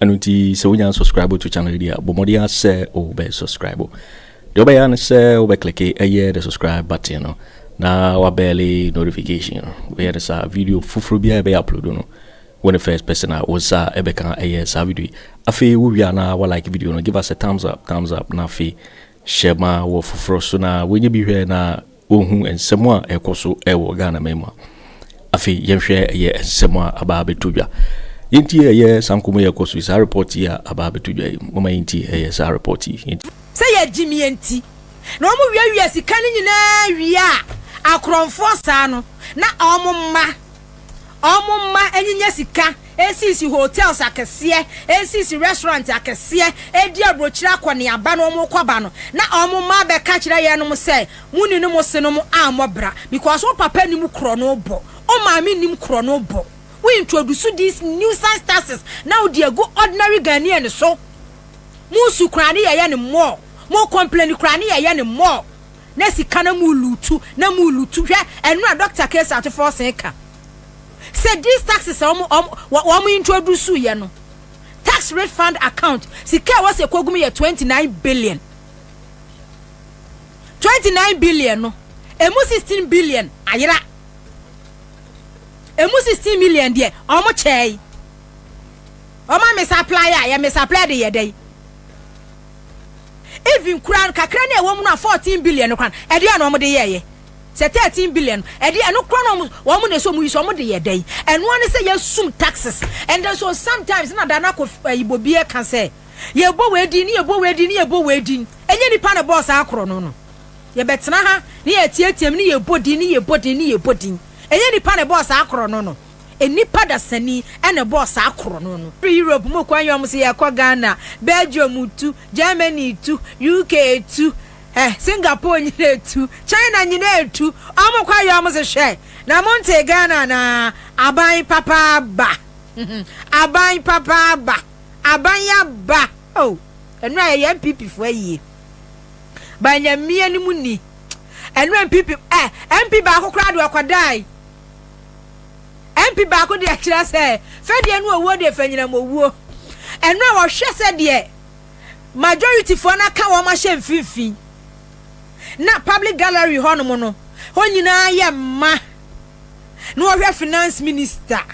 Ɛno nti sɛ wonya unsubscribe to channel yi deɛ a, bɔ mmɔden ara sɛ wobɛ subscribe. Deɛ wobɛyɛ ara ne sɛ wobɛ kleke ɛyɛ the subscribe button no na wabɛɛle notification no. Woyɛ no saa a, video foforɔ biara a yɛbɛyɛ upload no, wo ne first person a wo nsa ɛbɛka ɛyɛ saa video yi. Afei wowie a na wa like video no, give us a thumbs up, thumbs up, na afei hyɛ ma wɔ foforɔ so na wonya bi hwɛ na wɔhu nsɛm a ɛrekɔ so wɔ Ghanaman mu a, afei yɛnhwɛ ɛyɛ nsɛm a aba abɛtɔ dwa. Yɛntie ɛyɛ saa nkɔmmɔ yi a ɛkɔ so yi, saa report yi a aba abɛtɔ dwa yi. Momma yɛntie ɛyɛ saa report yi. Yɛntie. Sɛ yɛ gyimie nti na ɔmo wiawia sika no nyinaa wie a akorɔnfoɔ saa no na ɔmo mma. Ɔmo mma nyinya sika nsisi hotels akɛseɛ, nsisi restaurant akɛseɛ, di abrokyire akɔneaba na ɔmo kɔba no na ɔmo mma abɛka kyerɛ yɛnom sɛ mo nini mo senom ammɔ bra because wo papa nim korɔno bɔ, wo maame nim korɔno bɔ. Wo introduce these nuisance taxes na wo de agu ordinary Ghanaian so. Mo su koraa ne yɛyɛ no more, mo complain koraa ne yɛyɛ no more. Na sika na mu lutu na mu lutu hwɛ ɛno na Doctor Case Atufo se ka sɛ these taxes a wɔn wɔn introduce yɛ no tax refund account sika ɛwɔ sɛ ɛkɔ gu mu yɛ twenty nine billion twenty nine billion no ɛmu sixteen billion ayera ɛmu sixteen million deɛ wɔn kyɛɛ wɔn a misapply a yɛ misapply de yɛ dɛ yi. Even koraa no kakra no a ɛwɔ mu no a fourteen billion no koraa no ɛdeɛ a na wɔn de yɛɛyɛ. Sɛ thirteen billion no ɛdeɛ ɛno koraa no wɔn wɔn na ɛsɛ wɔn yi so wɔn de yɛ dɛn? Ɛno ara ne sɛ yɛsum taxes and then so sometimes na Dana Ko ɛyi Bobi ɛka sɛ yɛbɔ wei din ne yɛbɔ wei din ne yɛbɔ wei din ɛnyɛ nipa na ɛbɔɔ saa korɔ no no. Yɛbɛtena ha ne yɛteateam ne yɛbɔ din ne yɛbɔ din ne yɛbɔ din ɛnyɛ nipa na ɛbɔɔ saa korɔ no no. Nnipa dasani na ɛbɔɔ saa korɔno no. Firi Europe mu kwan yɔm so yɛkɔ Ghana, Belgium tu, Germany tu, UK tu, eh, Singapore nyina tu, China nyina tu, ɔmo kɔ yɔm so hwɛ. Na mo ntee Ghana anaa? Aban papa aba. Aban papa aba. Aban aba. Oh, ɛnora yɛyɛ NPP foɔ ayie. Ba Nyamea no mu ni. Ɛnora NPP, eh, MP baako koraa deɛ ɔkɔdae. MP baako de akyerɛ sɛ fɛdeɛ no owuo deɛ fanyinam owuo. Ɛno a wɔhwɛ sɛ deɛ majorityfoɔ no aka wɔn ahyɛ mfimfini na public gallery hɔnom no hɔ nyinaa yɛ mma na wɔhwɛ finance minister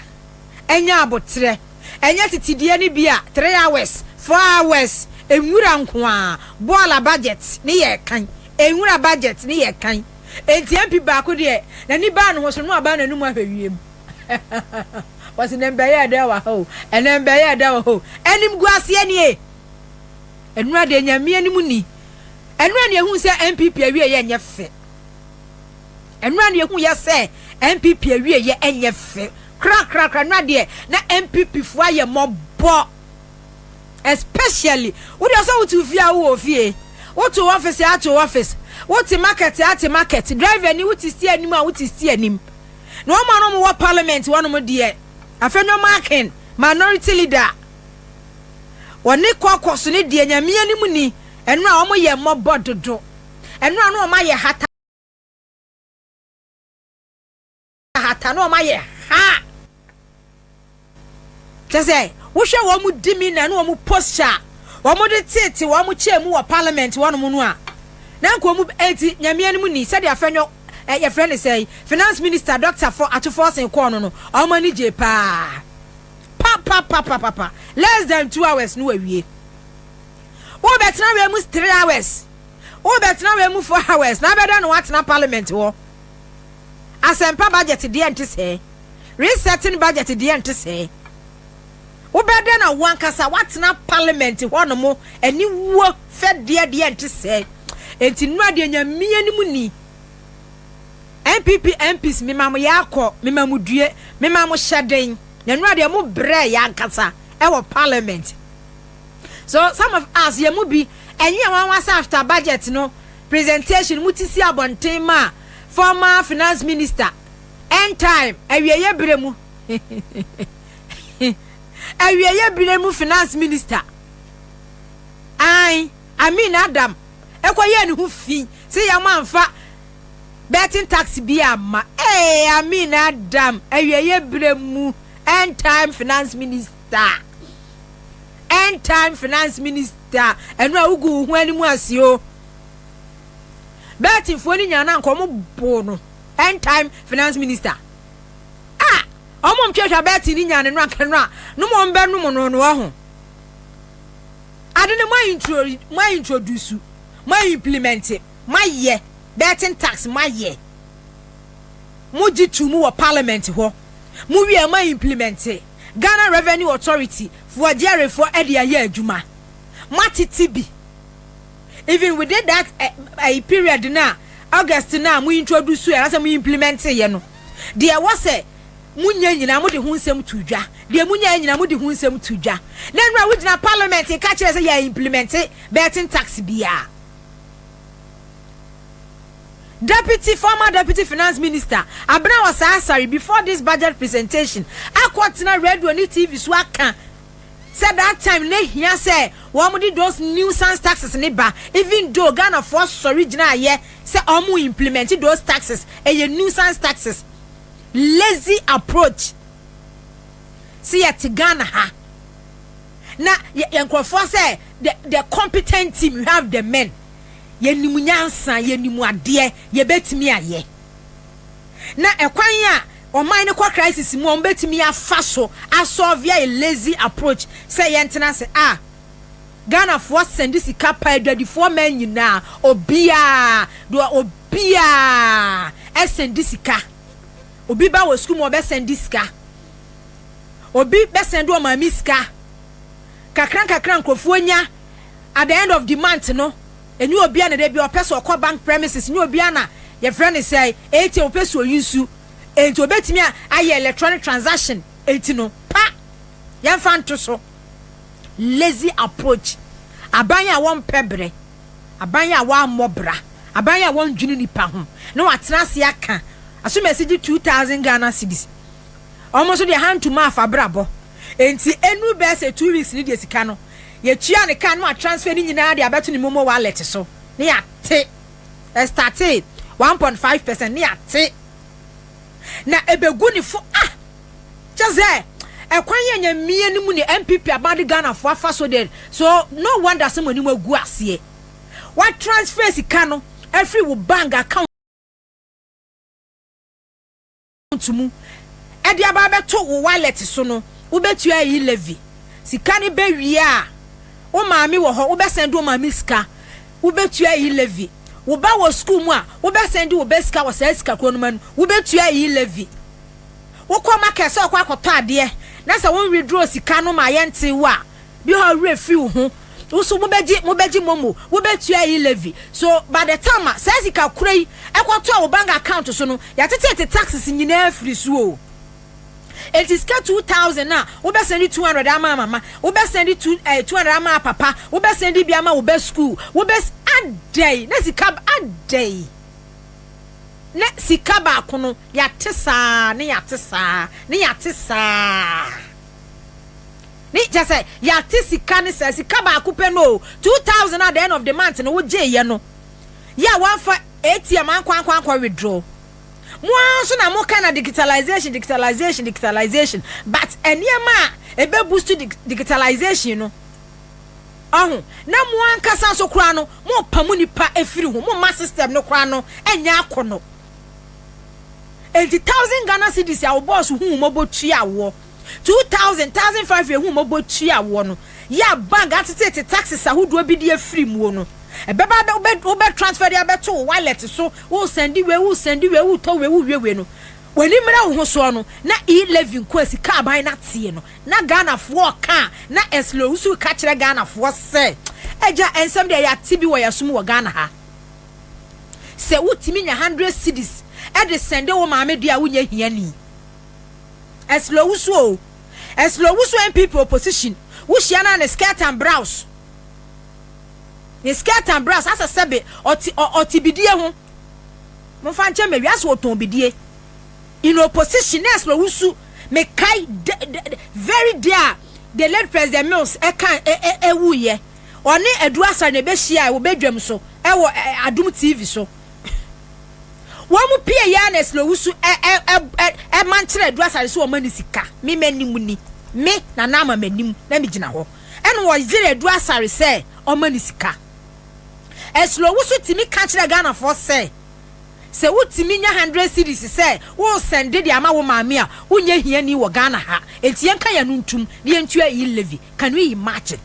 anya aboterɛ ɛnyɛ titideɛ no bi a three hours four hours nwura nkoaa bɔɔla budget ne yɛ kan nwura budget ne yɛ kan Enti MP baako deɛ n'ani baa ne ho so no na wabaa n'anum ahwɛ wiem. Wɔse nɛ mbɛyɛ ɛdɛ wɔ ha o, ɛnɛ mbɛyɛ ɛdɛ wɔ hɔ o. Animguaseɛ nie. Ɛnoa deɛ Nyame anim nni. Ɛnoa na yɛhuu sɛ NPP awieɛ nyɛ fɛ. Ɛnoa na yɛhuu yɛ sɛ NPP awieɛ nyɛ fɛ. Krakrakra ɛnoa deɛ na NPP foɔ ayɛ mɔbɔ. especially wode ɔsɛ wote ofie a wowɔ ofie wote office a te office wote market a te market driver ni wote sti anim a wote sti anim na wɔn a wɔn wɔ parliament wɔn deɛ afei no marking minority leader wɔne kɔkɔ so ne deɛ nyame anim ni ɛno a wɔn yɛ mmɔbɔ dodo ɛno a no wɔn ayɛ hata hata na wɔn ayɛ haa kyɛ sɛ wohwɛ wɔn di mi na ne wɔn posture a wɔn de tete wɔn kyɛn mu wɔ parliament wɔnom no a na nka wɔn eti nyamea no mu ni sɛdeɛ afɛnyɔ ɛ yɛfrɛ ne sɛ finance minister doctor fo atofo ɔsen kɔɔ no no wɔn ani gye paa papapapapa less than two hours no wawie wobɛtena wei mu three hours wobɛtena wei mu four hours na abɛda no watena parliament wɔ. Asɛmpa Budget deɛ nte sɛɛ. Resetting Budget deɛ nte sɛɛ. Wobɛyɛ dɛn na woankasa woatena Parliament hɔ nom aniwuo fɛdeɛ deɛ nte sɛɛ. Enti nnora deɛ Nyame anim ni. NPP MPs mema mo yaa kɔ, mema mo due, mema mo hyɛden. Na nnora deɛ mo brɛɛ yɛ ankasa wɔ Parliament. So some of us yɛn mu bi ɛnwea nwanwa sɛ after Budget no, presentation mu te si abɔnten maa former Finance Minister, End Time awieeɛ berɛ mu awieeɛ berɛ mu Finance Minister, ae, Amin Adam kɔyɛɛ ne ho fi sɛ yɛn amfa betting tax bi amma, ee, Amin Adam awieeɛ berɛ mu End Time Finance Minister. Da. End time finance minister ɛno a wogu wo ho anim ase o. Bɛɛtefoɔ no nyinaa na anka wɔn boo no end time finance minister. A wɔn ntwɛtwa bɛɛte no nyinaa no no anka no a no mo wɔn bɛnom no no ho. Ade no mo a intro mo a introduce mo a implement mo ayɛ bɛɛten tax mo ayɛ mo gye tu mu wɔ parliament hɔ mo wie mo a implement. Ghana Revenue Authority foɔ adiyarifoɔ ɛde ayɛ adwuma ma titi bi even within that ɛyi period no a August no a mo introduce yɛ anasɛ mo implement yɛ no deɛ ɛwɔ sɛ mo nya nyinaa mo de ho nsɛm to dwa deɛ mo nya yɛ nyinaa mo de ho nsɛm to dwa na nnura wo gyina parliament ka kyerɛ sɛ yɛ implement bɛɛten tax biara. Deputy, former Deputy Finance Minister, Abena Osah-Asare before this budget presentation akɔtena radio ne TV so aka sɛ that time na ehia sɛ wɔde those nuisance taxes no ba even though Ghanafoɔ sɔre gyinaeɛ sɛ wɔn implement those taxes, ɛyɛ nuisance taxes. Lazy approach. Sɛ yɛte Ghana ha. na yɛ yɛ nkurɔfoɔ sɛ the the competent team we have the men yɛnim nyansa yɛnim adeɛ yɛbɛtumi ayɛ na ɛkwan a ɔman no kɔ crisis mu a wɔbɛtumi afa so asɔvia a lazy approach sɛ yɛntena ase a Ghanafoɔ sɛnde sika pa adwadifoɔ man nyinaa obiaa deɛ obiaa ɛsɛnde sika obi ba wɔ sukuu mu ɔbɛsɛnde sika. obi bɛsɛn de ɔmaa me sika kakra nkakra nkurɔfoɔ nya at the end of the month no ɛnyɛ obia na da bia ɔpɛ sɛ ɔkɔ bank premises nyɛ obia na yɛfrɛ ne sɛ ATM ɔpɛ sɛ oyi nsu enti obɛtumi a ayɛ electronic transaction enti no pa yɛmfa nto so lazy approach aban a wɔmpɛ berɛ aban a wɔammɔ bra aban a wɔndwene nipa ho na wɔatena ase aka asomasi gye 2000 Ghana cedis Ɔmo nso deɛ hantum a fa bra bɔ nti enu bɛɛ sɛ two weeks ne deɛ sika no yɛ tua ne ka ne wa transfer ne nyinaa de abɛto ne momo wallet so ne ya te ɛstate one point five percent ne ya te na ɛbɛ gu ne fo ah kyɛ sɛ ɛkwan yɛ nya mmie ne mu ne MPP aban de Ghana fo afa so deɛ so no wonder sɛ mo anim agu aseɛ wa transfer sika no afiri wo bank account account mu de aba abɛto wo wallet so no, wobɛtua ayi levy. Sika no bɛ wie a, wo maame wɔ hɔ, wobɛ sɛnde wo maame sika, wobɛtua ayi levy. Wo ba wɔ school mu a, wobɛ sɛnde wo ba sika wɔ saa sika korɔ no mu a no, wobɛtua ayi levy. Wokɔ market sɛ ɔkɔ akɔtɔ adeɛ na sɛ wo withdraw sika no ma yɛntee wo a, Bi a ɔwerɛ fi wo ho, wo so mobɛgye mobɛgye momo, wobɛtua ayi levy. So by the time a saa sika korɔ yi ɛkɔtɔ wo bank account so no, yɛateteete taxes nyinaa afiri so o. Enti sika two thousand no a, wobɛsɛnde two hundred ama mama, wobɛsɛnde two eh, two hundred ama papa, wobɛsɛnde bi ama wo ba school, wobɛs adɛn na sika adɛn na sika baako no yɛate saa ne yɛate saa ne yɛate saa. Ne kyɛ sɛ yɛate sika ne saa sika baako pɛ no o, two thousand at the end of the month no wogyeeɛ no yɛ a woamfa ATM ankɔ ankɔ ankɔ withdraw. Mo ara nso na moka na digitalization digitalization digitalization but nneɛma a ɛbɛ boost digitalization no ɔho na mo ankasa nso koraa no morepa mo nipa afiri ho, momma system no koraa no nyɛ akɔnɔ. Enti thousand Ghana cedis a wo bɔɔso hu wo mmɔbɔ tua woɔ, two thousand, thousand five a ɛhu wo mmɔbɔ tua woɔ no, yɛ a bank ateteete taxes ahodoɔ bi de afiri muo no, ɛbɛba abɛ, wobɛ, wobɛ transfer de abɛto wo wallet so, wo sɛndi wei, wo sɛndi wei, wo tɔ wei, wo wie wei no, w'ani mmra wo ho soɔ no, na e-levy nko a sika aban no ateɛ no, na Ghanafoɔ reka a, na ɛslow, woso reka kyerɛ Ghanafoɔ sɛ, agya, nsɛm deɛ yɛate bi wɔ yɛn so mu wɔ Ghana ha. Sɛ wotumi nya hundred cedis de sɛnde wo maame deɛ a wonyɛ hiani. Ɛsla Owusu oo, Ɛsla Owusu NPP opposition, wohyia no a ne skirt and brows, ne skirt and brows asɛ sɛbe ɔte ɔ ɔte bidie ho. Momfa nkyɛ me, wiase ɔtɔn bidie. In opposition na Ɛsla Owusu, mekae de de de very day a the late President Mills ɛka ɛ ɛ ɛwuiɛ. ɔne Adu Asare na ɛbɛhyiae wɔ badwam so wɔ Adom TV so. Wɔn mu pii yɛ Ernest na Owusu ma nkyerɛ Adu Asare sɛ ɔma no sika. Me m'anim ni. Me, Nana Ama m'anim na megyina hɔ. Ɛna wɔyere Adu Asare sɛ ɔma no sika. Ernst Owusu tumi ka kyerɛ Ghanafoɔ sɛ, sɛ wotumi nya hundred cedis sɛ woresɛnde de ama wo maame a, wonyɛ hiani wɔ Ghana ha. Enti yɛnka yɛn ano ntom na yɛntua e-levy. Can we imagine?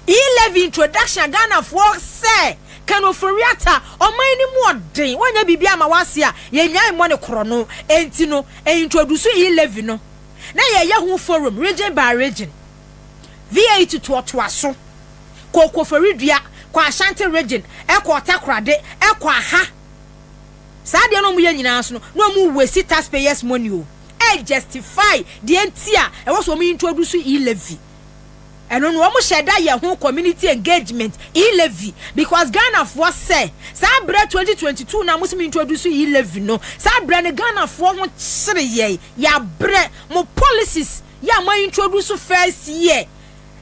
E. Levy introduction a Ghanafoɔ sɛ Ken Ofori-Atta, ɔman no mu ɔden, wɔnyɛ biribiara mma w'ase a, yɛnnyae mmɔ no korɔno. Enti no, E. introduce E. Levy no na yɛyɛ ho forum, region by region. VA it toatoa so kɔɔ Koforidua, kɔɔ Ashanti region, ɛkɔɔ Takorade, ɛkɔɔ aha. Saa adeɛ no a wɔyɛ nyinaa nso no, na wɔn waste taxpayers money o. ɛ justify deɛ nti a ɛwɔ sɛ wɔn introduce e-levy ɛno no wɔn hyɛ da yɛ ho community engagement e-levy because Ghana foɔ sɛ saa brɛ 2022 na wɔn sɛ introduce e-levy no saa brɛ no Ghana foɔ ho kyere yɛ yɛ abrɛ mo policies yɛ a mo introduce first year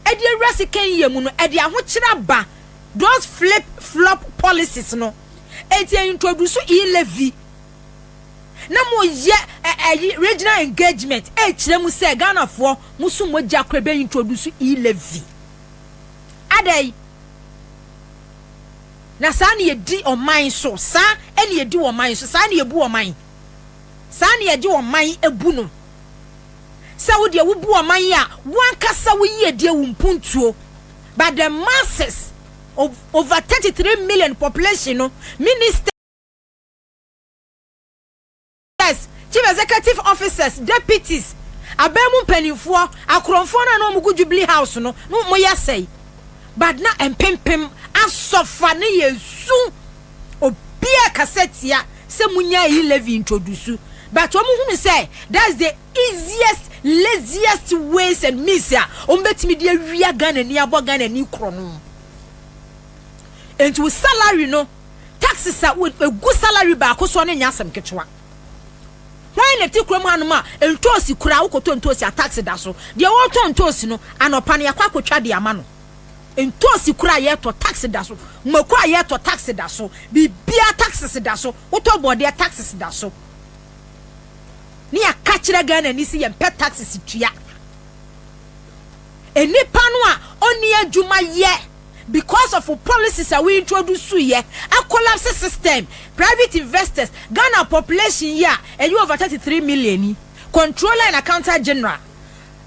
ɛde awura second year mu no ɛde ahokyere aba those flip flop policies no ɛti introduce e-levy. na mo yɛ ɛ ɛyi regional engagement ɛkyerɛ mu sɛ ghanafoɔ mo so mo gya korɛ bɛ introduce e levy adɛn na saa na yɛdi ɔman so saa ɛna yɛdi ɔman so saa na yɛbu ɔman saa na yɛgye ɔman ɛbu no sɛ wo deɛ wobu ɔman a wankasa wo yie deɛ wo mpuntuo but the masses of over 33 million population no minister Chief Executive Officers, Deputies, aban mu mpanimfoɔ, akorɔmfoɔ no a na wɔgu Jubilee House no, na wɔyɛ sɛe. But na mpempem asɔfa no yɛ su. Obiara kasa tia sɛ munya ayi levy introduce. But wɔn hunu sɛ that's the easiest, laziest ways and means a wɔn bɛtumi de awia Ghana ni abɔ Ghana ni korɔ no. Enti wo salary no. taxes a egu salary baako soɔ no nyɛ asɛm ketewa. Hwan na ɛte kurom hanom a ntoosi koraa wokɔtɔ ntoosi a tax da so? Deɛ ɔretɔ ntoosi no anɔpa no yɛakɔ akɔtwa de ama no. Ntoosi koraa a yɛretɔ tax da so, mako a yɛretɔ tax da so, biribiara taxes da so, wotɔ bɔɔdeɛ taxes da so. Ne yɛaka kyerɛ Ghanani sɛ yɛmpɛ taxes tua. Nnipa no a ɔnni adwuma yɛ because of wo policies a wo introduce yɛ a collapse system, private investors, Ghana population yi a ɛyɛ over 33 million yi, controller and accountant general,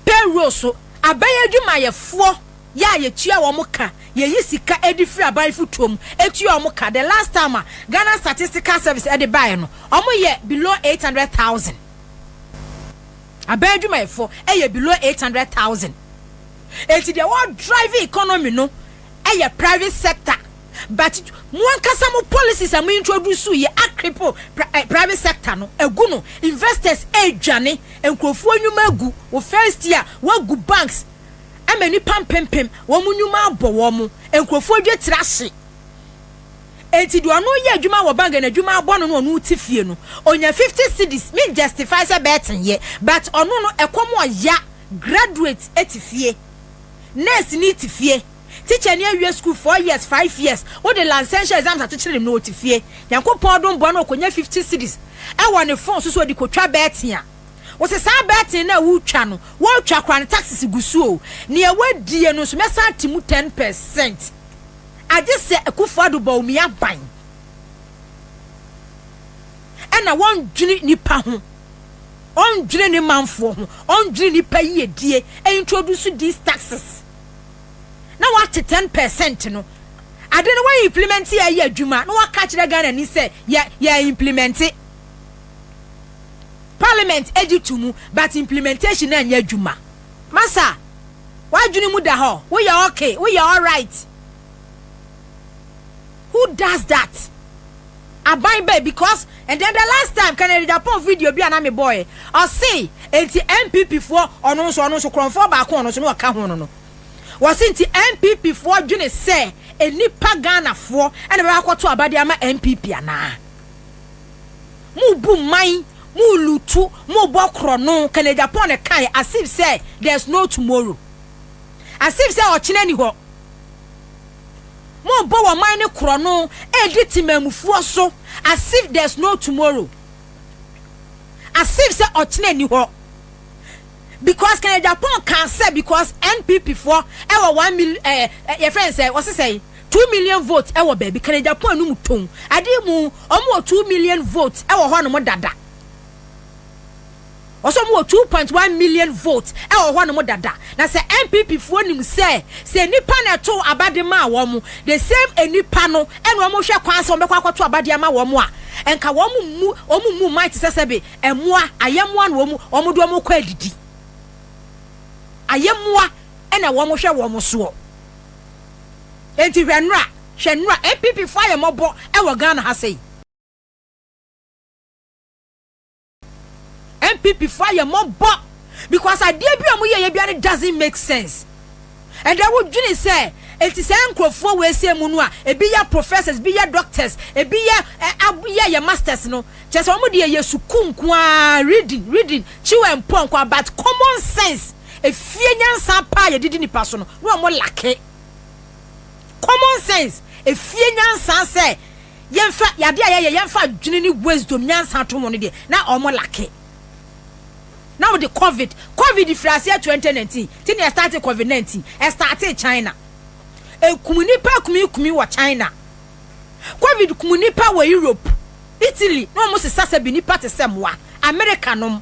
payroll so, aban adwumayɛfoɔ yɛ a yɛtua wɔn ka, yɛyi sika de firi aban fotuo mu tua wɔn ka, the last time a Ghana statistical service de baeɛ no wɔyɛ below 800,000. Aban adwumayɛfo yɛ below eight hundred thousand enti deɛ wɔ drive economy no yɛ private sector but mo ankasa mo policies a mo introduce yi a cripple private sector no agu no investors adwane nkurɔfoɔ nnwuma agu wo first year wagu banks ama nipa mpempem wɔn nnwuma abɔ wɔn nkurɔfoɔ adwa tiri ahye. Enti deɛ ɔno yɛ adwuma wɔ bank na adwuma abɔ no no ɔno ti fie no ɔnya 50 cedis me justify sɛ bɛɛten yɛ but ɔno no ɛkɔm ɔya graduate ɛte fie nurse ni te fie teacher ni awie school 4 years 5 years wo de lansɛnhyɛ exams ato kyerɛ nim no ɔte fie nyankopɔn ɔdom bɔ no ɔkɔnya 50 cedis ɛwɔ ne phone so so ɔde kɔtwa bɛɛten a wo se saa bɛɛten no a wo twa no wo twa kora no taxes gu so o nea wadie no nso mɛsan te mu 10 percent. Agye sɛ Akufo-Addo bɔ Bawumia ban na ɔndwene nipa ho, ɔndwene ne manfoɔ ho, ɔndwene nipa yiedie, introduce these taxes na wate 10 percent no, ade no wa implement yɛ ayɛ adwuma na waka kyerɛ Ghana ni sɛ yɛ, yɛ implement. Parliament agye to mu but implementation anyɛ adwuma. Masa, w'adwene mu da hɔ, woyɛ ok, woyɛ alright. Who does that? Aban bɛn? Because and then the last time Kennedy Agyapong video bi a na mebɔɔɛ, ɔse enti NPP foɔ ɔno nso ɔno nso korɔmfoɔ baako ɔno nso na ɔka ho no no, wɔse nti NPP foɔ dwene sɛ nnipa Ghanafoɔ na bɛbɛkɔto aba de ama NPP anaa? Morebu mman, morelutu, morebɔ korɔno, Kenneth Agyapong kae, as if sɛ there's no tomorrow, as if sɛ ɔkyena nni hɔ. Morebɔ wɔn man no korɔno, redi temammufoɔ so, as if there's no tomorrow, as if sɛ ɔkyena nni hɔ. Because Kenneth Agyapong kaa sɛ because NPP foɔ wɔ one million, eh, eh, yɛfrɛ no sɛ, wɔse sɛn? Two million votes ɛwɔ baabi Canada po anum tɔn adeɛ mu ɔmo wɔ two million votes ɛwɔ hɔ nom dada ɔsɛ ɔmo wɔ two point one million votes ɛwɔ hɔ nom dada na sɛ NPP foɔ nim sɛ sɛ nipa na ɛto aba de maa wɔn the same nipa no ɛna ɔmo hwɛ kwan sɛ ɔmo bɛkɔ akɔto aba de ama wɔn a ɛnka wɔn mu ɔmo mu man te sɛ sɛbe ɛmoa ayɛmoa na ɔmo ɔmo de ɔmo kɔ adidi ayɛmoa ɛna wɔn hwɛ wɔn soɔ. Enti hwɛ nnora, hwɛ nnora, NPP foɔ ayɛ mmɔbɔ wɔ Ghana ha sei. NPP foɔ ayɛ mmɔbɔ because adeɛ bi a wɔn yɛɛyɛ biara no doesn't make sense. Ɛdɛ wo dwene sɛ enti saa nkorɔfoɔ wei sei mu no a ebi yɛ professors, ebi yɛ doctors, ebi yɛ ɛ ab yɛ yɛ masters no, kyerɛ sɛ wɔn deɛ yɛ sukuu nko ara, reading, reading, chew and pɔ nko ara but common sense. Efie nyansa pa a yɛde di nnipa so no, na wɔn lacke common sense. Efie nyansa sɛ yɛmfa yade a yɛyɛ yɛmfa adwene ne wisdom nyansa to ho no deɛ, na wɔn lacke. Na wɔde covid covid firi aseɛ twenty nineteen ti na ɛstarte covid nineteen ɛstartee China ɛkum nnipa kumi kumi wɔ China covid kum nnipa wɔ Europe Italy na wɔn sesa sɛ bi nnipa te sɛ mmoa America nom.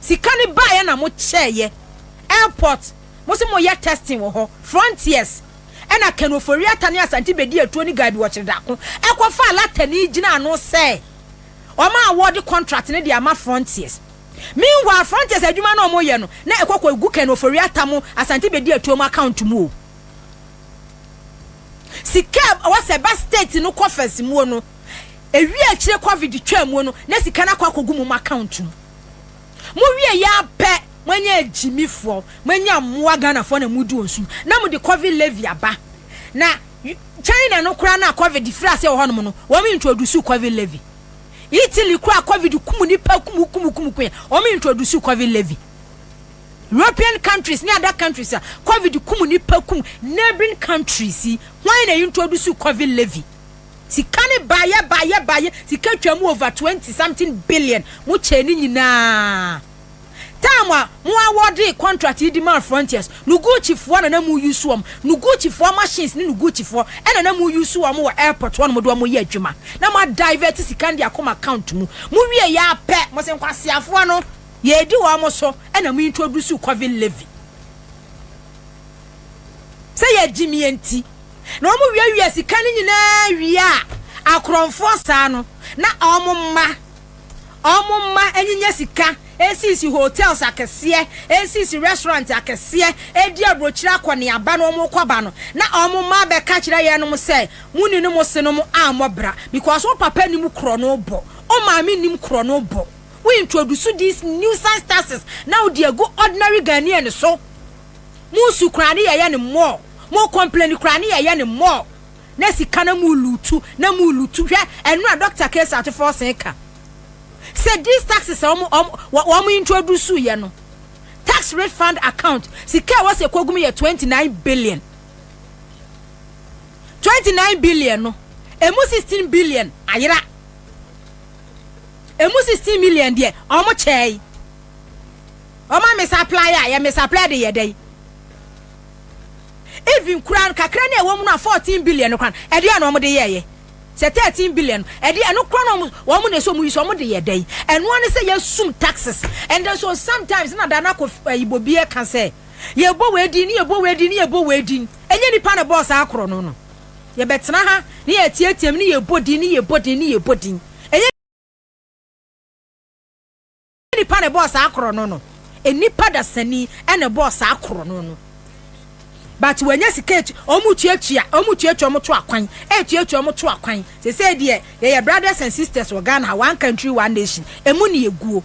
Sika no baeɛ na mo kyɛeɛ airport mo se mo yɛ testing wɔ hɔ frontiers ɛna Ken Ofori-Atta ne Asante bɛdi atuo ne Gabi Ɔkyere-Darko ɛkɔ faa Latani gyina ano sɛ wɔn a award contract no de ama frontiers meanwhile frontiers adwuma no wɔn yɛ no na ɛkɔ kɔ gu Ken Ofori-Atta mo Asante bɛdi atuo mo account mu o sika ɛwɔ sɛ ɛba state no coffers muo no. Ewie akyire covid twaa mu no na sika no akɔ akɔgu mom account mu. Mowie yɛ ara pɛ moanya agyimifoɔ, moanya mmoa Ghanafoɔ na modi wɔn so na mode covid levy aba. Na China no koraa no a covid firi aseɛ wɔ hɔnom no wɔn introduce covid levy. Italy koraa a covid kum nnipa kum kum kum kum wɔn introduce covid levy. European countries ne other countries a covid kum nnipa kum neighbouring countries yi hwan na introduce covid levy? Sika no baeɛ baeɛ baeɛ, sika twaam over twenty something billion, mo kyɛɛ ne nyinaa. Time a mo awɔɔdee contract yi de maa Frontiers no Gucci foɔ na na mo use wɔn, no Gucci foɔ machines ne no Gucci foɔ ɛna na mo use wɔn wɔ airport hɔnom de wɔn yɛ adwuma na mo a divert sika no de akɔ mo account mu. Mo wieeɛ ara pɛ, mo se nkwaseafoɔ no, yɛredi wɔn so ɛna mo introduce Covid levy. sɛ yɛgyimie nti na wɔn wiawia sika no nyinaa wie a akorɔmfoɔ saa no na wɔn mma wɔn mma nyinya sika ɛsisi hotels akɛseɛ ɛsisi restaurant akɛseɛ ɛdi aburokyire akɔneaba no wɔn kɔ ba no na wɔn mma abɛka kyerɛ yɛn nom sɛ mo ni no mo se nom ammɔ bra because wo papa nim korɔ no bɔ wo maame nim korɔ no bɔ wo introduce these nuisance taxes na wo di agu ordinary Ghanaian so Mo su koraa ne yɛyɛ no more, mo complain koraa ne yɛyɛ no more na sika na mo lutu na mo lutu hwɛ ɛnora Doctor Kesa Atufo Ɔsɛn ka sɛ these taxes a wɔn wɔn wɔn introduce yɛ no tax refund account sika ɛwɔ sɛ kogum yɛ 29 billion 29 billion no emu 16 billion ayera emu 16 million deɛ wɔn kyɛɛ. Ɔma me supply a yɛ me supply de yɛ dɛ yi. Even kura no kakra ne ɛwɔ mu no a fourteen billion no kura no ɛde a na wɔn de yɛ yɛ. Sɛ thirteen billion no ɛde ɛno kura no wɔn wɔn na ɛsɛ wɔn yi so wɔn de yɛ dɛ yi. Ɛnoa ne sɛ yɛ sum taxes and then so sometimes na da na ko ɛyi bɔ bi ɛka sɛ yɛ bɔ wɔ edin ne yɛ bɔ wɔ edin ne yɛ bɔ wɔ edin. Ɛnyɛ nipa na bɔɔ saa korɔ no no. Yɛ bɛ tena ha ne yɛ tietia mu ne yɛ bɔ din ne yɛ bɔ din ne yɛ bɔ din. Ɛnyɛ. Ɛnyɛ nipa na ɛbɔɔ saa korɔno no. Nnipa dasani na ɛbɔɔ saa korɔno no. But wɔanya sika atu, wɔn tuatua, wɔn tuatua wɔn to akwan, ɛtuatua wɔn to akwan. Sɛsɛ deɛ yɛyɛ brothers and sisters wɔ Ghana ha, one country, one nation, ɛmu ne ɛguo.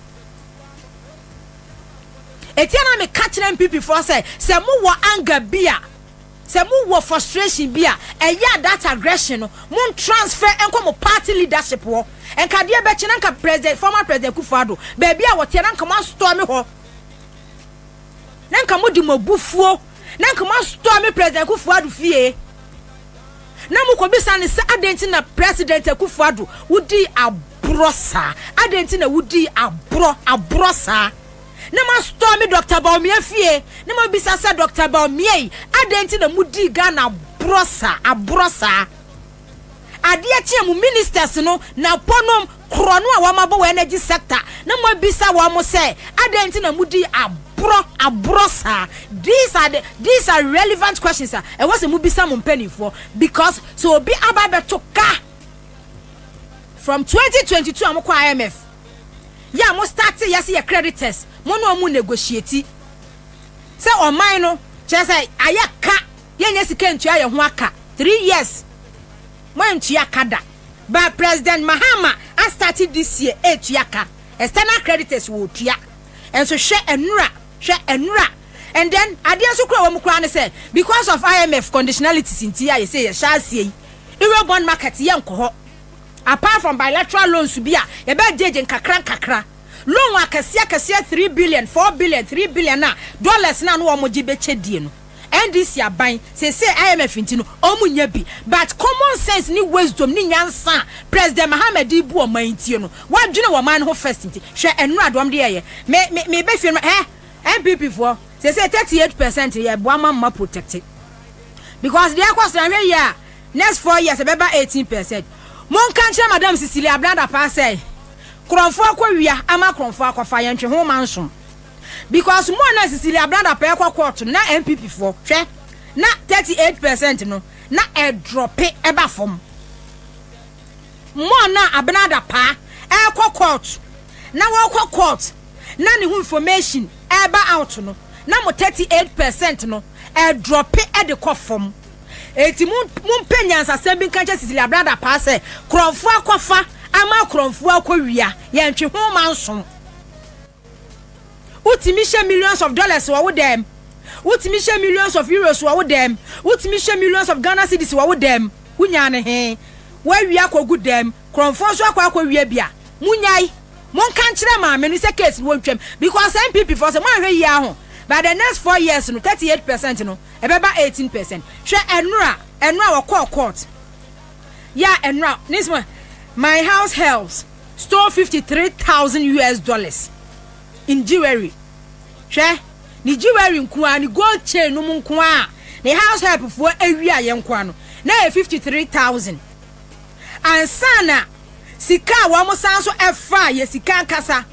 Ɛtia na meka kyerɛ NPP foɔ sɛ, sɛ mowɔ anger bi a, Sɛ mo wɔ frustration bi a ɛyɛ a that aggression no mo ntransfer nkɔ mo party leadership hɔ nka adeɛ bɛkye na nka president former president Akufo Addo baabi a wɔteɛ na nka mo astorm hɔ na nka mo de mo abufuo na nka mo astorm president Akufo Addo fie na mo kɔ bisa ne sɛ adɛn ti na president Akufo Addo wodi aborɔ saa adɛn ti na wodi aborɔ aborɔ saa. Na m'asotɔɔ me Doctor Bawumia fie na m'abisa sɛ Doctor Bawumia yi adɛn nti na mo dii Ghana aborɔ saa aborɔ saa? Adeɛ kye a mo ministers no na po nom korɔ no a wɔn abɔ wɔ energy sector na mo abisa wɔn sɛ adɛn nti na mo dii aborɔ aborɔ saa? These are the these are relevant questions a ɛwɔ sɛ mo bisa mo mpaninfoɔ because sɛ obi aba abɛto ka from 2022 a mo kɔ IMF. yɛ a mo startee yɛ se yɛ creditors mo ne ɔmo negotiate sɛ ɔman no kyerɛ sɛ ayɛ ka yɛ nyɛ sika ntua yɛ ho aka three years mo antua ka da but president Mahama a starte this year ɛtua ka external creditors wɔ tua ɛnso hwɛ ɛnura hwɛ ɛnura and then adeɛ nso kura wɔ mo kura ne sɛ because of IMF conditionalities nti a yɛ sɛ yɛ hyɛ aseɛ yi euro bond market yɛ nkɔ hɔ. Apart from bilateral loans bi a yɛbɛ gage nkakra nkakra, loan akɛseɛ akɛseɛ three billion, four billion, three billion a dollars no a na wɔn gye bɛ kyɛ die no, NDC aban, seesei IMF nti no, wɔn nyɛ bi. But common sense ne wisdom ne nyansa a President Mahama de rebu ɔman yi tie no, wadwene wɔ ɔman no ho first nti, hwɛ nnura deɛ wɔn de yɛɛyɛ. Me, me, me ba fie no, hɛ, NPP foɔ, seesei thirty eight percent yɛ boa ma mma protecte. Because deɛ ɛrekɔ so no, anhwɛ yie a, Next four years ɛbɛba eighteen percent. Monka nkyerɛ Madam Cecilia Brada paa sɛ Krɔnfo akɔ wia ama Krɔnfo akɔfa yɛn ntwe ho ma nsom because mo a na Cecilia Brada paa ɛkɔ court no na NPP foɔ hwɛ na thirty eight percent no na ɛdrɔpe ɛba fam mo a na Abenada paa ɛkɔ court na wɔkɔ court na ne ho information ɛba out no na mo thirty eight percent no ɛdrɔpe ɛde kɔ fam. Enti mo mompɛ nyansasɛm bi nka nkyɛ Cecilia Brada paa sɛ korɔmfoɔ akɔfa ama korɔmfoɔ akɔwia. Yɛntwe ho ma nsom. Wotumi hyɛ millions of dollars wɔ wo dɛm. Wotumi hyɛ millions of euros wɔ wo dɛm. Wotumi hyɛ millions of Ghana cedis wɔ wo dɛm. Wonyaa no he? Woawia akɔgu dɛm. Korɔmfoɔ nso akɔ akɔwia bi a. Monnyae. Monka nkyerɛ maame no sɛ case no wɔntwam because NPP foɔ sɛ moanhwɛ yie a ho by the next four years no thirty eight percent no Ɛbɛba eighteen percent. Hwɛ ɛnora ɛnora ɔkɔɔ court yɛ a ɛnora ne sɛ my house helps stole fifty three thousand US dollars in jewelry hwɛ ne jewelry nkoa ne gold chain nom nkoa a ne house help foɔ awia yɛ nkoa no na yɛ fifty three thousand ansa na sika a wɔn san so ɛfa yɛ sika ankasa.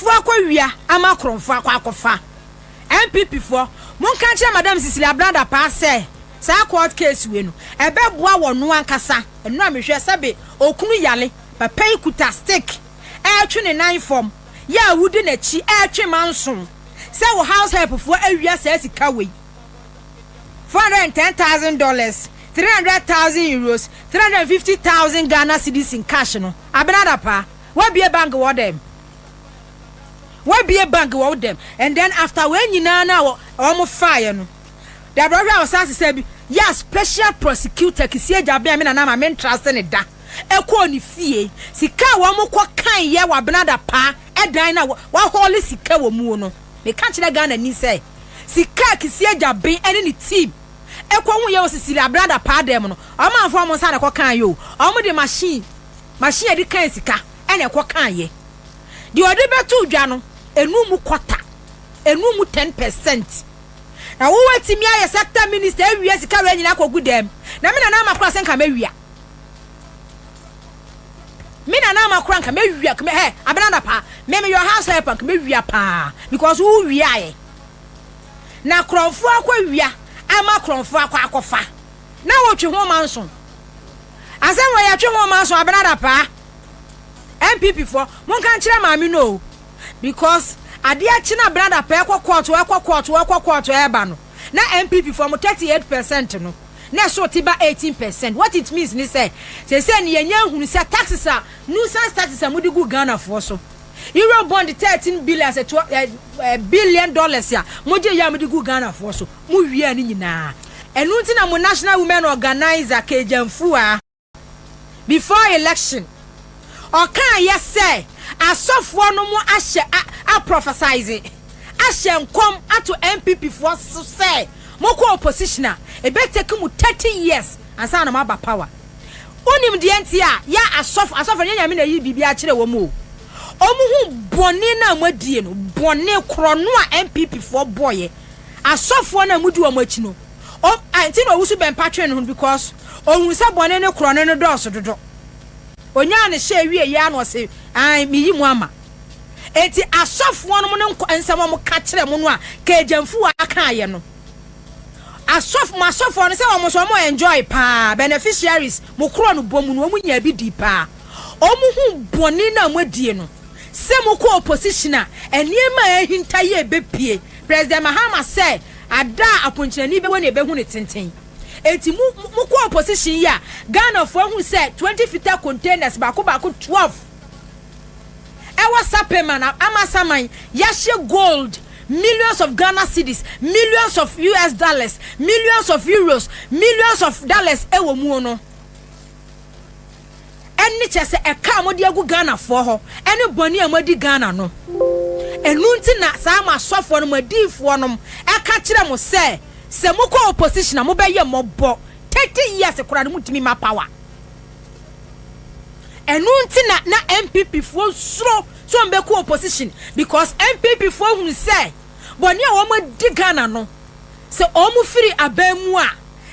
foɔ akɔ wia ama kron foɔ akɔ akɔ fa NPP foɔ mo nka nkyerɛ madam Cecilia Abraham Dapaah sɛ saa court case wei no ɛbɛ boa wɔ no ankasa ɛno a mehwɛ sɛbe okunu yale papa yi kuta stick ɛɛtwe ne nan fam yɛ a wodi nakyi ɛɛtwe ma nso sɛ wo house help foɔ awia saa sika wei four hundred and ten thousand dollars three hundred thousand euros three hundred and fifty thousand Ghana cedis in cash no. Abinada pa, wabie bank wɔ dɛm? Wabie bank wɔ wo dɛm? And then after wei nyinaa no a wɔn faeɛ no, dabrɛ hwɛ a wɔsan sesa bi, yɛ special prosecutor Kissi Agyaben a me nana ma me ntra ase no da, ɛkɔɔ ne fie. Sika a wɔn kɔ kaeɛ wɔ Abinada pa dan no a wɔahɔle sika wɔ muo no, meka kyerɛ Ghana ni sɛ, sika a Kissi Agyaben ne ne team. ɛkɔ hu yɛ wɔ sisiri abrada paa dɛm no ɔmanfoɔ ɔmo nsa na ɛkɔ kaa yɛ o ɔmo de machine machine yɛde kan sika ɛna ɛkɔ kaa yɛ deɛ ɔde bɛto dwa no ɛnu mu kɔta ɛnu mu ten percent na wo watumi ayɛ sector minister awia sika wei nyina akɔ gu dɛm na me nana ama kora sɛ nka mɛwia me nana ama kora nka mɛwia kmɛ hɛ abrada paa me me yɔ house help nka mɛwia paa because wo wia yɛ na korɔnfo akɔ wia ama korɔnfo akɔ akɔfa na wɔtwe ho ma nso asɛm wɔ yɛtwe ho ma nso abenada paa npp fɔ monka nkyerɛ maame no o because adeɛ kye na abenada paa ɛkɔ kɔɔto ɛkɔ kɔɔto ɛkɔ kɔɔto ɛba no na npp fɔ mo 38 percent no na ɛso te ba 18 percent what it means ne sɛ sɛ sɛ ne yɛnyɛ nhunu sɛ taxes a nuisance taxes a mode gu Ghanafoɔ so Eurobond thirteen billions ɛtoa ɛ ɛ billion dollars a mo gye yɛ a mo de gu Ghana foɔ so mo wia ne nyinaa ɛno nti na mo national women organiser Kagyan Fuaa before election ɔkaa yɛ sɛ asɔfoɔ no mo ahyɛ a a prophesize ahyɛ nkɔm ato NPP foɔ so sɛ mo kɔ opposition a ɛbɛ take mo thirty years ansa na mo aba power. Wonim deɛ nti a yɛ asɔfo, asɔfo ɛnyɛ nyame na ɛyi biribiara kyerɛ wɔn o, wɔn hu bɔne no a wɔadie no, bɔne korɔ no a NPP foɔ bɔeɛ, asɔfoɔ no a modi wɔn akyi no, wɔn, ɛnti na ɔwusu bɛmpa twee ne ho no because ɔhunu sɛ bɔne no korɔ no no dɔɔso dodo. Ɔnyaa ne hyɛ wie yɛ a na ɔse ae meyi mo ama. Ɛnti asɔfoɔ nom no nkɔ, nsɛm a wɔka kyerɛ mo no a Kejemfuwa kaeɛ no, Asɔfo mo asɔfoɔ no sɛ wɔn nso wɔn enjoy paa beneficiaries mo korɔ no bɔ mu no wɔn nyaa bi dii paa wɔn hu bɔne no a mo adie no sɛ mo kɔ opposition a nneɛma a ahinta yi ɛbɛ pie President Mahama sɛ ada a aponkyerɛni bɛ wɔ na ɛbɛ hu ne tenten enti mo mo kɔ opposition yi a Ghanafoɔ ahu sɛ 20 fita containers baako baako 12 ɛwɔ Sapema na Amasaman yɛahyɛ gold millions of Ghana cedis millions of US dollars millions of euros millions of dollars ɛwɔ muo no ɛne kyɛ sɛ ɛka a mode agu Ghanafoɔ hɔ ɛne bɔne a moadi Ghana no ɛnu nti na saa mo asɔfoɔ no mo adiifoɔ nom ɛka kyerɛ mo sɛ sɛ mokɔ opposition a mobɛyɛ mɔbɔ 30 years koraa no motumi ma power Ɛno nti na na NPP foɔ suro sɛ wɔn bɛkɔ opposition because NPP foɔ hunu sɛ bɔne a wɔn adi Ghana no sɛ wɔn firi aban mu a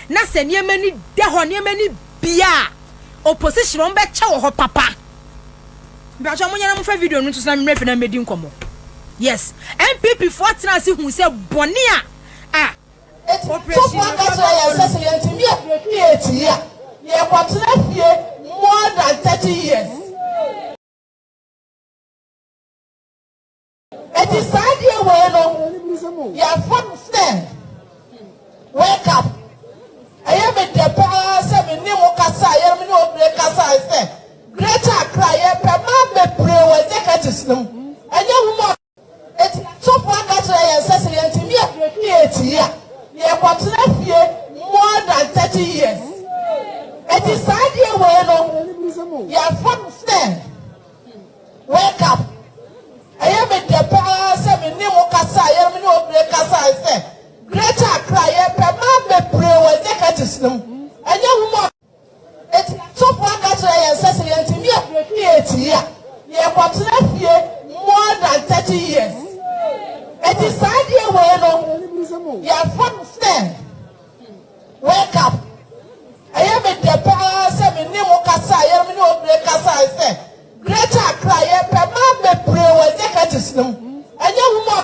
na sɛ nneɛma ni da hɔ nneɛma ni bia a opposition wɔn bɛkyɛ wɔ hɔ papa. Mpakyɛ wɔn nyɛ na wɔn fa video no nto so na mmerɛ fi na mmɛdi nkɔmɔ. Yes NPP foɔ tena ase hunu sɛ bɔne a a. Tofua ka kyerɛ yɛn sɛ sɛ yɛntumi annuate yi a, yɛkɔtena fie more than thirty years. Enti saa adeɛ wei no, yɛafa no sɛ wake up. Ɛyɛ me dɛ paa sɛ me ne mo kasa a yɛn me ne obire kasa sɛ Greater Accra yɛpɛ mmaa bebree wɔ executives no mu. Ɛnyɛ nwuma. Enti, Tofua ka kyerɛɛ yɛn sɛ sɛ yɛantumi aduadua akyi a, yɛkɔtena fie more than thirty years. Enti saa adeɛ wei no, yɛafa no sɛ wake up. Ɛyɛ me dɛ paa sɛ me ne mo kasa a yɛn me ne obire kasae sɛ Greater Accra yɛpɛ mmaa bebree wɔ executives no mu. Ɛnyɛ nwuma. Enti sɔfo aka akyerɛ yɛn sɛ sɛ yɛantumi abreaki eti yi a, yɛkɔtena fie more than thirty years. Enti saa adeɛ wei no, yɛafa no sɛ wake up. Ɛyɛ me dɛ paa sɛ me ne mo kasa a yɛn me ne obire kasae sɛ Greater Accra yɛpɛ mmaa bebree wɔ executives no mu. Ɛnyɛ nwuma.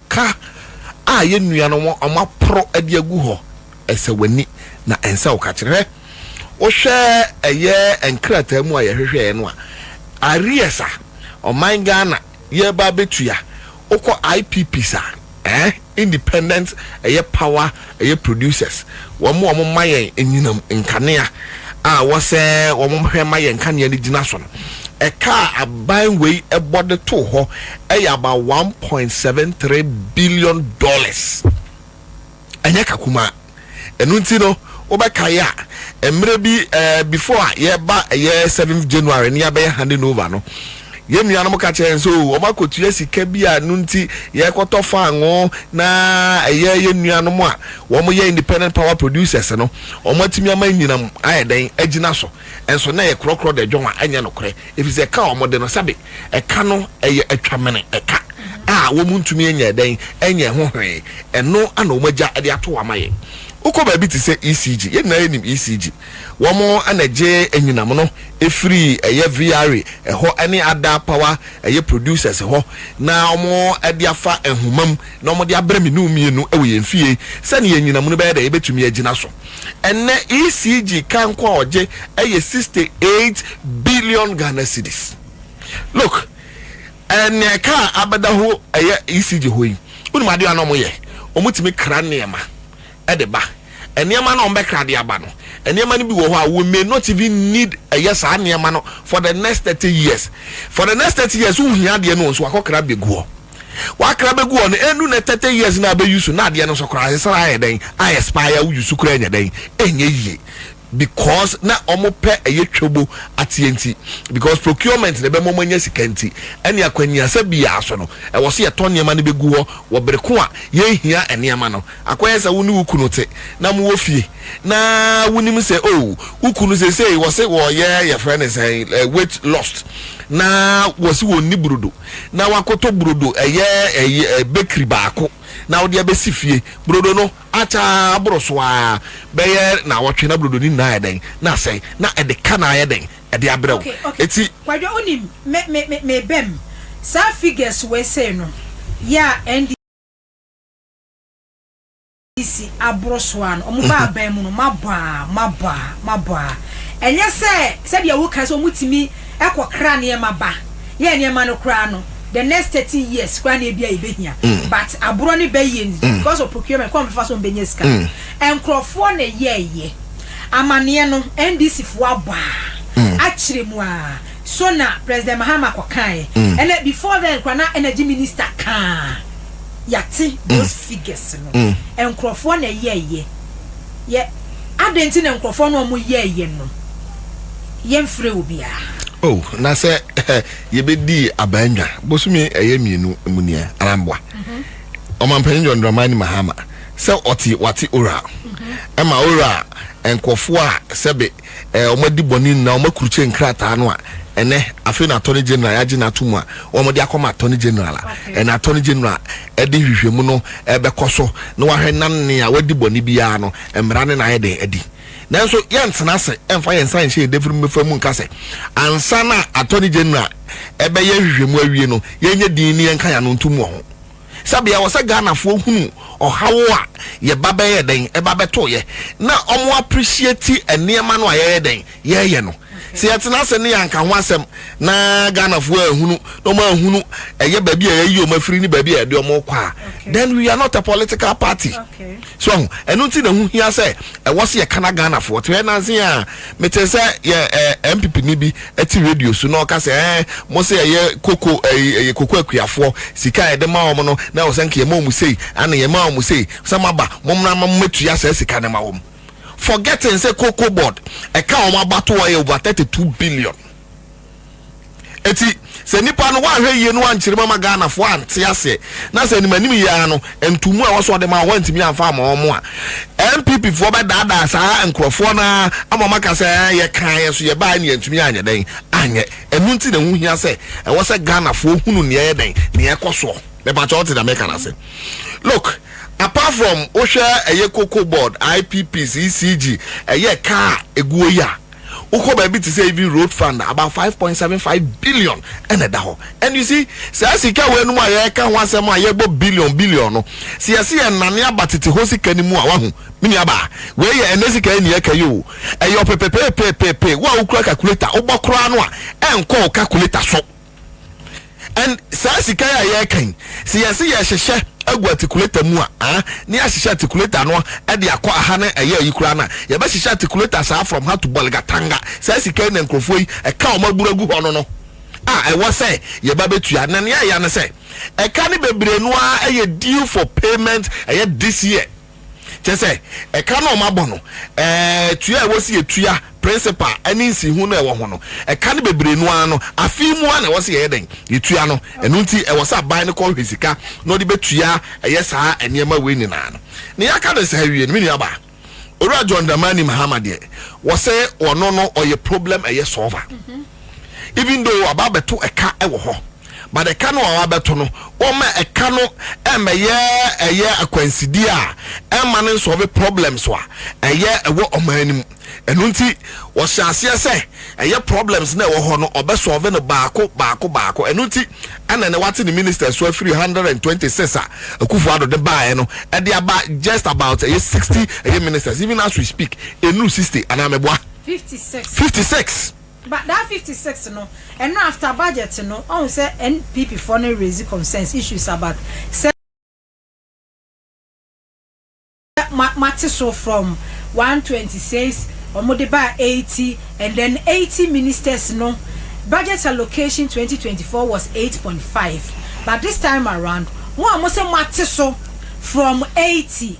Ka a yɛn nuanom a wɔaporo de agu hɔ, ɛsɛ w'ani, na ɛnsɛ wo ka kyerɛ. Hwɛ, wohwɛ ɛyɛ nkrataa mu a yɛhwehwɛeɛ no a, arrears a ɔman Ghana yɛreba abɛtua, wokɔ IPPIS a, eh, Independent ɛyɛ Power. Ɛyɛ producers wɔn a wɔn ma yɛn anyinam nkanea a wɔ sɛ wɔn hwɛ ma yɛn nkanea no gyina so no. Ɛka a aban wei bɔ de too hɔ yɛ about one point seven three billion dollars. Ɛnyɛ ka kumaa. Ɛno nti no wo bɛ kae a mmerɛ bi before a yɛreba ɛyɛ seventh January ne yɛabɛyɛ handing over no, Yɛn nuanom ka kyerɛ yɛn sɛ wɔakɔtua sika bi a ɛno nti yɛrekɔtɔ fangoo na ɛyɛ yɛn nuanom a wɔyɛ independent power producers no, wɔatumi ama anyinam ayɛ dɛn agyina so. Nso na ɛyɛ korɔkorɔ dɛ dwon a ɛnyɛ nokorɛ, ɛfiri sɛ ɛka a wɔde no, sɛbe ɛka no yɛ atwamene ɛka a wɔntumi nyɛ dɛn nyɛ ho hwee, ɛno na wɔagya de ato hɔ ama yɛn. Wokɔ baabi te sɛ ECG, yɛn nyinaa yɛnim ECG. Wɔn na ɛgye anyinam no firi ɛyɛ VRA hɔ ne Ada Power ɛyɛ producers hɔ na wɔn de afa nhoma mu na wɔn de abrɛ me ne wo mmienu wɔ yɛn fie sɛdeɛ anyinam no bɛyɛ dɛn ɛbɛtumi agyina so. Ɛnnɛ ECG kanko a ɔgye ɛyɛ sixty eight billion Ghana cedis. Look, ɛnea ɛka a abɛda hɔ ɛyɛ ECG hɔ yi, wonim adeɛ a na wɔyɛ? Wɔtumi kra nneɛma de ba. Nneɛma no a wɔbɛkra de aba no, nneɛma no bi wɔ hɔ a we may not even need ɛyɛ saa nneɛma no for the next thirty years. For the next thirty years wohia adeɛ no nso wakɔkra bɛgu hɔ. Wakra bɛgu hɔ no ɛndu na thirty years no a bɛyi so na adeɛ no nso koraa ɛsɛ sɛ ayɛ dɛn? A expire wo yi so koraa nyɛ dɛn? Ɛnyɛ yie. because na ɔmo pɛ ɛyɛ twamu ateɛ nti because procurement na ɛbɛma ɔmo anya sika nti ɛne akwaniasa biaa so no ɛwɔ sɛ yɛtɔ nneɛma no bɛgu hɔ wɔ bere ko a yɛnhia nneɛma no akɔyɛ sɛ wo ne wo kunu te na mowɔ fie na wonim sɛ oh wo kunu seisei wɔse wɔyɛ yɛfrɛ ne sɛ weight lost na wɔse wɔnni burodo na wakɔtɔ burodo ɛyɛ ɛyɛ bakery baako na wode abɛsi fie burodo no ataa boro so ara bɛyɛ naawɔtwe na brodo no nyinaa ayɛ dɛn? Na asɛe, na ɛde ka no ayɛ dɛn? Ɛde abrɛ wo. Enti. Kwadwo, wonim, me, me, me, mebam saa figures wei sei no, yɛ a NDC aboro so ara no, wɔn ba aban mu no, mabɔ a, mabɔ a, mabɔ a. Ɛnyɛ sɛ, sɛdeɛ wokae sɛ wɔtumi kɔkra nneɛma ba, yɛɛ nneɛma no koraa no, the next thirty years koraa na ebi a yɛbɛhia mm. but aborɔ ne bɛ yie mm. because of procurement kɔn bɛfa so mbɛnya sika mm. nkurɔfoɔ na yɛɛyɛ amaneɛ no ndc foɔ abaa akyerɛ mu a so na president mahama kɔkaeɛ ɛnɛ before then koraa na energy minister kaa yɛate those figures no nkurɔfoɔ na yɛɛyɛ yɛ adɛn nti na nkurɔfoɔ no ɔmo yɛɛyɛ no yɛmfrɛ obiara oh na sɛ yɛbɛdi abandwa bosome ɛyɛ mmienu mu nie anaa mboa ɔmanpanyin John Dramani Mahama sɛ ɔte wate ora ɛma ora nkurɔfoɔ a sɛbe wɔn adi bɔne nyinaa wɔn akurukye nkrataa no a ɛnɛ afei na attorney general yɛagye no ato mu a wɔn de akɔma attorney general a ɛna attorney general ɛde nhwehwɛmu no ɛbɛkɔ so na wahwɛ nanne a wadi bɔne biara no mmara ne na ayɛ dɛn adi Nanso yɛntena ase mfa yɛn nsa nhyɛ yɛn dafiri mu mmɛfa mu nka sɛ, ansa na Attorney General ɛbɛyɛ nhwehwɛmu awie no, yɛnyɛ dinn na yɛnka yɛn ano ntom wɔ ho. Sɛbe ɛwɔ sɛ Ghanafoɔ hunu ɔhaw a yɛba bɛyɛ dɛn ɛba bɛtoeɛ na wɔn appreciate nneɛma no a yɛyɛ dɛn, yɛyɛ no. Sɛ yɛtena ase ne yɛanka ho asɛm na Ghanafoɔ anhunu na wɔn anhunu ɛyɛ baabi a yɛayi wɔn afiri ne baabi a yɛde wɔn rekɔ a, then we are not a political party. So ahu, ɛno nti na ɛho hia sɛ ɛwɔ sɛ yɛka na Ghanafoɔ te. Hwɛ nanse a mete sɛ yɛ ɛɛ MPP ni bi te radio so na ɔka sɛ ɛɛ mo sɛ ɛyɛ koko ɛyɛ ɛyɛ koko akuafoɔ sika a yɛde ma wɔn no na ɛwɔ sɛ nka yɛma wɔn sei ana yɛma wɔn sei sɛ mo aba mo mmra ma mo mɛtua saa sika no ma wɔn. forgetting sɛ cocoa board ɛka wɔn abatoɔ yɛ over thirty two billion eti sɛ nipa no wahwɛ yie no wankyerɛ mu ama ghana fo ante aseɛ na sɛ anim anim yia no ntumu a wɔsɔ ɔde ma wɔn ntumi anfa ama wɔn a npp foɔ bɛ daadaa saa nkorɔfoɔ no ama wɔn aka sɛ yɛ kan yɛ so yɛ baa ne yɛ ntumi anyɛ dɛn anyɛ ɛnu nti na ɛho hia sɛ ɛwɔ sɛ ghana foɔ hunu nea ɛyɛ dɛn nea ɛkɔ soɔ mɛpatwa ɔte na mɛka na sɛ. Look apart from wo hwɛ ɛyɛ cocoa board, IPPs, ECG, ɛyɛ car a ɛguo yi a wo kɔ baabi te sɛ even road fund about five point seven five billion ɛna ɛda hɔ and you see saa sika wei nom a yɛka ho asɛm a yɛbɔ billion billion no sɛ yɛse yɛ nane aba tete hɔ sika no mu a wahu me nua baa wei yɛ ɛnɛ sika yɛ nea ɛka yi o ɛyɛ ɔpepepepepepe wo a wokura calculator wobɔ koraa no a ɛnkɔ wo calculator so. and saa sika yi a yɛreka yi sɛ yɛse yɛhyehyɛ agu articulator mu a ah ne yɛahyehyɛ articulator no de akɔ aha na ɛyɛ ayi koraa no a yɛbɛhyehyɛ articulator saa from ha to bolgatanga saa sika yi na nkurɔfoɔ yi ɛka wɔn abura gu hɔ no no a ɛwɔ sɛ yɛba bɛtua na nea ɛya no sɛ ɛka no bebree no ara ɛyɛ due for payment ɛyɛ this year Kyerɛ sɛ, ɛka no a wɔabɔ no, ɛɛ, tua a ɛwɔ sɛ yɛtua, principal, ne nsiho no a ɛwɔ ho no, ɛka no bebree no ara no, afe mu ara na ɛwɔ sɛ yɛyɛ dɛn? Yɛtua no. Ɛno nti, ɛwɔ sɛ aban no kɔhwehwɛ sika na ɔde bɛtua ɛyɛ saa nneɛma wei nyinaa no. Nea yɛaka no saa awie no, me nuabaa, Owura John Dramani Mahama deɛ, wɔsɛ ɔno no, ɔyɛ problem ɛyɛ solver. Even though waba abɛto ɛka wɔ hɔ. but ɛka no a wabɛto no wɔma ɛka no ɛmmɛyɛ ɛyɛ akwansideɛ a ɛmma no nsɔve problems a ɛyɛ ɛwɔ ɔman no mu ɛno nti wɔhyɛ aseɛ sɛ ɛyɛ problems na ɛwɔ hɔ no ɔbɛsɔve no baako baako baako ɛno nti ɛna ne wate ne minister so afiri 126 a akufo ado de baeɛ no ɛde aba just about ɛyɛ 60 ɛyɛ ministers even as we speak ɛnuru 60 anaa mɛboa 56 56 But that fifty six no ɛno after budget no ɔhu sɛ NPP foɔ no raise concerns issues about sɛ moate so from one twenty six wɔn de baa eighty and then eighty ministers no budget allocation twenty twenty four was eight point five but this time around mo a mo sɛ moate so from eighty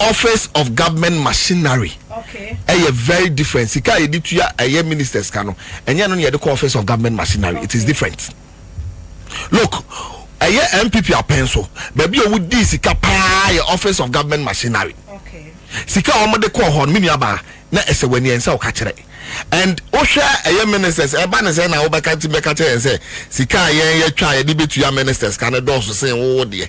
office of government machinery ɛyɛ very different sika a yɛde tua ɛyɛ ministers ka no ɛnyɛ no na yɛde kɔ office of government machinery it is different look ɛyɛ npp apɛn so baabi a wɔdi sika paa yɛ office of government machinery sika a wɔde kɔɔ hɔ no menua baa na ɛsɛ w'ani ɛnsɛ wo ka kyerɛ and wohwɛ ɛyɛ ministers ɛba ne sɛ na wobɛka ti bɛka kyerɛ yɛn sɛ sika a yɛn yɛtwa a yɛde bɛtua ministers ka no dɔɔso sen wowo deɛ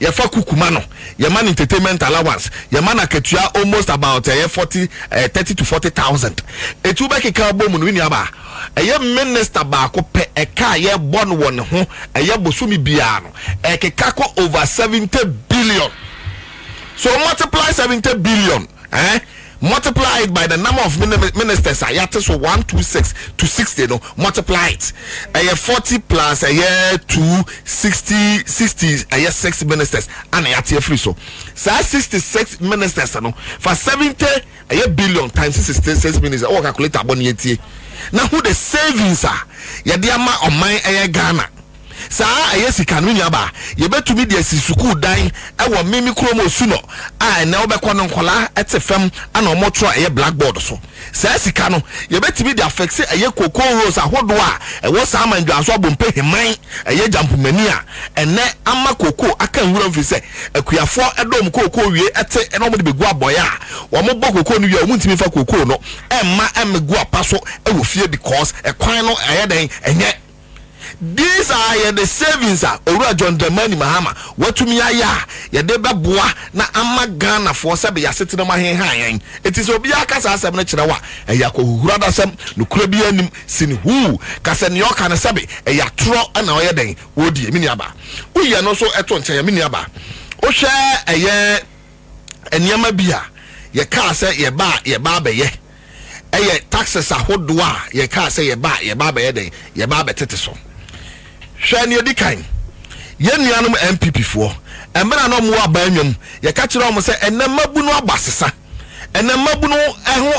Yɛfa kuku ma no, yɛma no entertainment allowance, yɛma no akatua almost about ɛyɛ forty ɛɛ thirty to forty thousand. Eti wobɛkeka abɔ mu no, me nuabaa, ɛyɛ minister baako pɛ ɛka a yɛbɔ no wɔ ne ho ɛyɛ bosome biara no, ɛkeka kɔ over seventy billion. So multiply seventy billion ɛɛ. Multiply it by the number of ministers a yɛate so one two six to sixty no multiply it ɛyɛ forty plus ɛyɛ two sixty sixty ɛyɛ six ministers ana yɛate afiri so saa sixty six ministers no fa seventy ɛyɛ billion times sixty six ministers ɛwɔ calculator abɔ ne yɛtie na ho the savings a yɛde ama ɔman ɛyɛ Ghana. Saa a ɛyɛ sika no nya ba a, yebetumi de asi sukuu dan wɔ me me kurom Osuno a ɛnnɛ wobɛkɔ no nkwadaa te fam na wɔn twerɛ a ɛyɛ black board so. Saa sika no yebetumi de afɛkse ɛyɛ cocoa rose ahodoɔ a ɛwɔ saa aman dwanso abompe heman ɛyɛ Jampumani a ɛnnɛ ama cocoa aka nwuram firi sɛ akuafoɔ dɔ wɔn cocoa wie te na wɔn de bɛgu abɔɛ a wɔn bɔ cocoa no wie a wɔn ntumi mfa cocoa no mma mmɛgu apa so wɔ fie because ɛkwan no ɛyɛ dɛn ɛnyɛ These are yɛde savings a Owura John Dramani Mahama watumi ayɛ a yɛde bɛboa na ama Ghanafoɔ sɛbe y'asetena mu ahenha yɛn. Enti sɛ obiara ka saa asɛm no kyerɛ wo a, ɛyɛ akɔhuhuradasɛm, nokorɛ biara nnim. Sin huu ka sɛ nea ɔka no sɛbe ɛyɛ atorɔ na ɔyɛ dɛn? Ɔredie. Me nuabaa, woyɛ no nso to nkyɛn a, me nuabaa, wohwɛ ɛyɛ nneɛma bi a yɛkaa sɛ yɛba a yɛba abɛyɛ, yɛ taxes ahodoɔ a yɛkaa sɛ yɛba a yɛba abɛyɛ dɛn yɛba abɛtete so hwɛ nea ɛdi kan yɛn nuanom NPP foɔ mmerɛ a na wɔwɔ abaa nwam yɛka kyerɛ wɔn sɛ ɛnɛ mmabunu aba sesa ɛnɛ mmabunu ɛho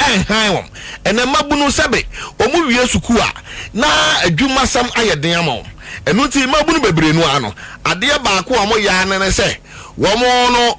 ɛnhan wɔn ɛnɛ mmabunu sɛbe wɔn wie sukuu a na adwumasɛm ayɛ den ama wɔn ɛno nti mmabunu bebree no ano adeɛ baako a wɔyɛ anene sɛ wɔn no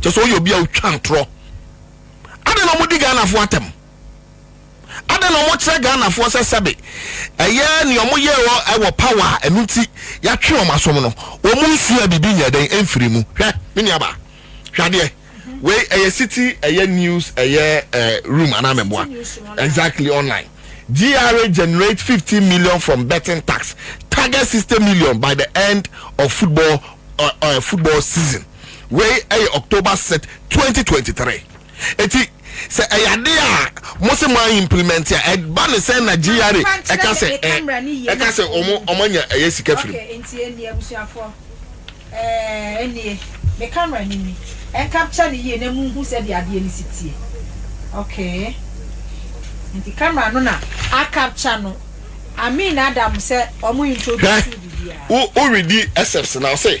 kyɛ sɛ ɔyɛ obi a ɔtwa ntorɔ adɛn na wɔdi ghanafoɔ atɛm adɛn na wɔkyerɛ ghanafoɔ sɛ sɛbe ɛyɛ nea wɔyɛ wɔ ɛwɔ power a ɛno nti yɛatwe wɔn asom no wɔn nsua biribi nyɛ dɛn ɛmfiri mu hwɛ me nuaba hwɛ adeɛ wei ɛyɛ city ɛyɛ news ɛyɛ eh, room anaa mɛboa exactly online GRA generate 50 million from betting tax target 60 million by the end of football uh, uh, football season Wei yɛ October Set twenty twenty three eti sɛ ɛyɛ ade a mo se mo a implement a ɛba ne sɛn na GRA ɛka sɛ ɛ ɛka sɛ ɔmo ɔmo anya ɛyɛ sika firi mu. Okay nti ɛnnie abusuafoɔ ɛɛ ɛnnie me camera ni ni ɛncapture ne yie na munhu sɛdeɛ adeɛ no si tie okay nti camera no na acapture no Amin Adam sɛ ɔmo introduce wo biribiara. Hwɛ wo wo redi except na ɔse.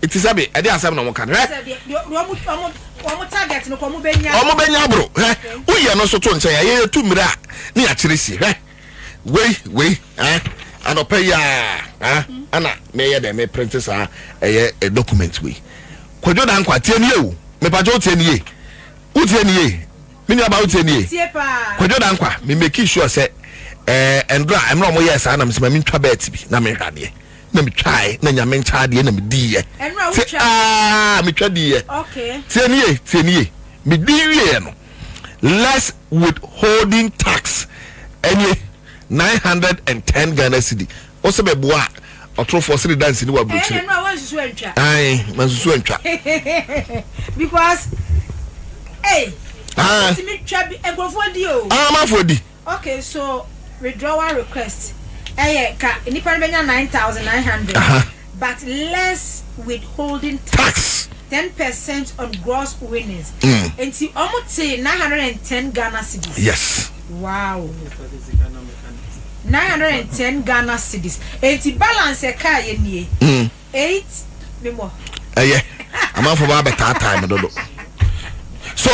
Ti sɛ me, ɛde asɛm na wɔka no. Hwɛ! Wɔbɛnya aboro. Hwɛ! Woyɛ no nso to nkyɛn a, yɛyɛ tu mmerɛ a ne yɛakyerɛ sie. Hwɛ! Wei, wei, eh, anɔpa yi a, eh, ɛna meyɛ dɛ me printe saa ɛyɛ eh, document wei. Kwadwo da nkwa, tie nie o, mepagye wo tie nie, wo tie nie, me nuaba wo tie nie. Kwadwo da nkwa, me make sure sɛ, eh, ɛndora, ɛmmerɛ ɔmo yɛ saa na mesɛ ma mentwa bɛɛt bi na menhwɛ adeɛ. na metwae na nyame nkyɛn adeɛ na mediiɛ te aa metwa diiɛ tie ne ye tie ne ye medi wieɛ no less withholding tax ɛne 910 Ghana cedi wo sɛ bɛboa a ɔtorofoɔ sɛ de dansi ne waburokyire ɛne na wansusu antwa ae mansusu antwa because ei ah. ɔtumi twa bi nkurɔfoɔ di o ah, amafoɔ di Ok so withdrawal request ɛyɛ ka nipa no bɛnya nine thousand nine hundred but less withholding tax ten percent on gross winnings mm. nti ɔmo te nine hundred and ten Ghana cedis. Yes. Wow. nine hundred and ten Ghana cedis nti balance ɛka yɛ nie. Mm. Eight ne mɔ. Ɛyɛ amanfo ba abɛtaataa me dodo. So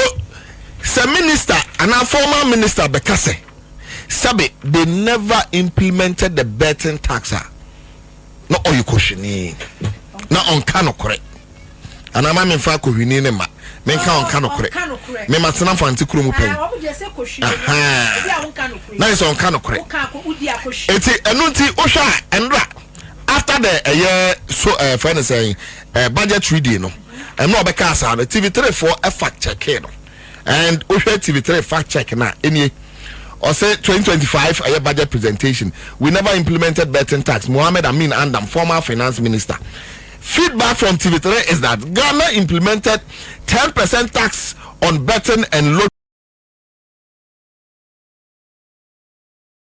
sɛ minister anaa former minister bɛka sɛ sɛbe they never implemented the betting tax a na ɔyɛ kohwini na ɔnka nokorɛ anaa ma memfa kohwini ne ma menka ɔnka nokorɛ mema tena fante kuro mu pɛn na yɛ sɛ ɔnka nokorɛ ɛti ɛno nti wohwɛ a ɛnra After the ɛyɛ so ɛɛ fɛn ne sɛn ɛɛ budget reading no ɛno a ɔbɛka asaa no TV three foɔ ɛfa kyɛkee no and wohwɛ TV three fa check na ɛnie ɔsɛ twenty twenty five ɛyɛ budget presentation we never implemented betting tax Mohammed Amin Andam former finance minister feedback from TV three is that Ghana implemented ten percent tax on betting and lottery.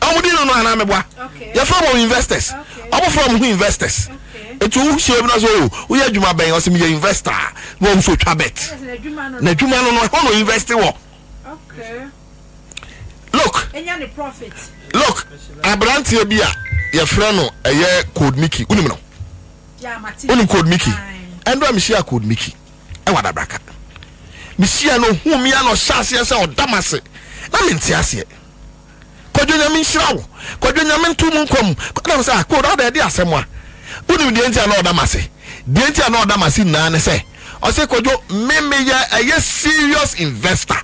ɔmo di no no anaa meboa yɛfrɛ wɔn investors ɔmo frɛ ɔmo ho investors nti wo hyia bi na sɛ o oh, woyɛ adwuma bɛn ɔsɛ meyɛ investor a na wɔn nso twa bet na adwuma no no ɛhɔ na invest wɔ look look aberanteɛ bi a yɛfrɛ no ɛyɛ code miki wonim no wonim code miki ɛndɔ a mehyia code miki ɛwɔ adabraka mehyia no hu mia na ɔhyɛ aseɛ sɛ ɔda m ase na mente aseɛ Kwadwo Nyame nhyira wo Kwadwo Nyame nto mo nkwa mu Ɛna me sɛ ah Kod adɛn ɛde asɛm a Wonim deɛ nti a na ɔda m'ase Deɛ nti a na ɔda m'ase nyinaa ne sɛ Ɔse Kwadwo me meyɛ ɛyɛ serious investor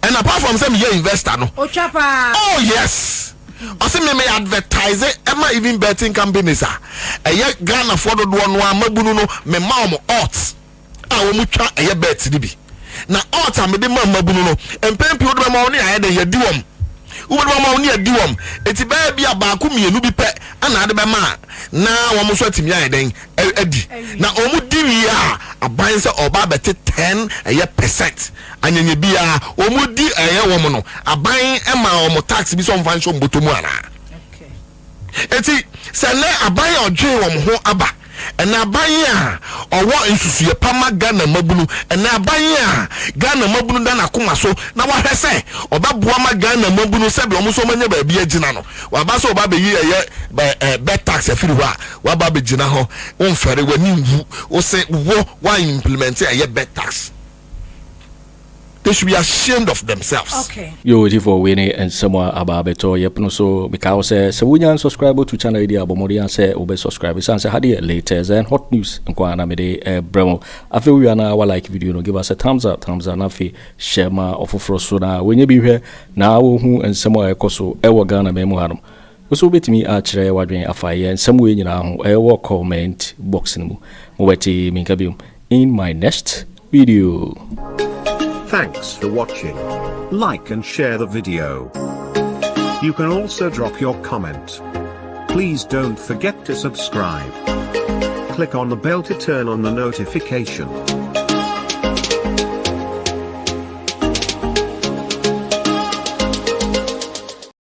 And apart from sɛ meyɛ investor no Otwa paa Oh yes Ɔse me me advertise ɛma even betting companies a Ɛyɛ Ghanafoɔ dodoɔ no a mabunu no mema wɔn odds a wɔtwa ɛyɛ bɛɛt no bi. Na ɔɔt a mede ma mmabunu no, mpɛn pii wode bɛma wɔn ne ayɛ dɛn yɛadi wɔn. Wobɛde bɛma wɔn ne yɛadi wɔn. Enti bɛyɛ bi a baako mmienu bi pɛ na ade bɛma a na wɔn nso atumi ayɛ dɛn adi. Na wɔn di wie a, aban sɛ ɔba abɛte ten ɛyɛ pɛsɛnt anyanya biara. Wɔn di ɛyɛ wɔn no, aban ma wɔn tax bi sɛ wɔmfa nhyɛ wɔn bɔtɔ mu anaa? Enti, sɛ nnɛ aban a ɔdwen wɔn ho aba, ɛnɛ aban a ɔwɔ nsusuiɛ pa ma Ghana mmabunu, ɛnɛ aban a Ghana mmabunu da n'akoma so na wahwɛ sɛ ɔbɛboa ma Ghana mmabunu sɛdeɛ wɔn nso wɔanya baabi agyina no, waba sɛ ɔbɛabɛyi ɛyɛ bed tax afiri hɔ a, waba abɛgyina hɔ, womfɛre w'ani nwu, wose wo woan implementi ɛyɛ bed tax. They should be ashamed of themselves. Okay. Yo Ojifo wei ne nsɛm a aba abɛtɔ yɛ pono so mekae wo sɛ sɛ wonya nsubscribe to channel yi deɛ a bɔ mmɔden a sɛ wobɛ subscribe ɛsiane sɛ ha deɛ latest and hot news nko a na mede ɛbrɛ mo afei wowie a na wa like video no give us a thumbs up thumbs up na afei hyɛ ma ɔfoforɔ so na wɔnyɛ bi hwɛ na wɔhu nsɛm a ɛkɔ so ɛwɔ Ghana man mu hanom Wo nso wobɛtumi akyerɛ w'adwene afa yɛn nsɛm wei nyinaa ho wɔ comment box no mu. Mobɛte me nka biom in my next video. Thanks for watching. Like and share the video. You can also drop your comment. Please don't forget to subscribe. Click on the bell to turn on the notification.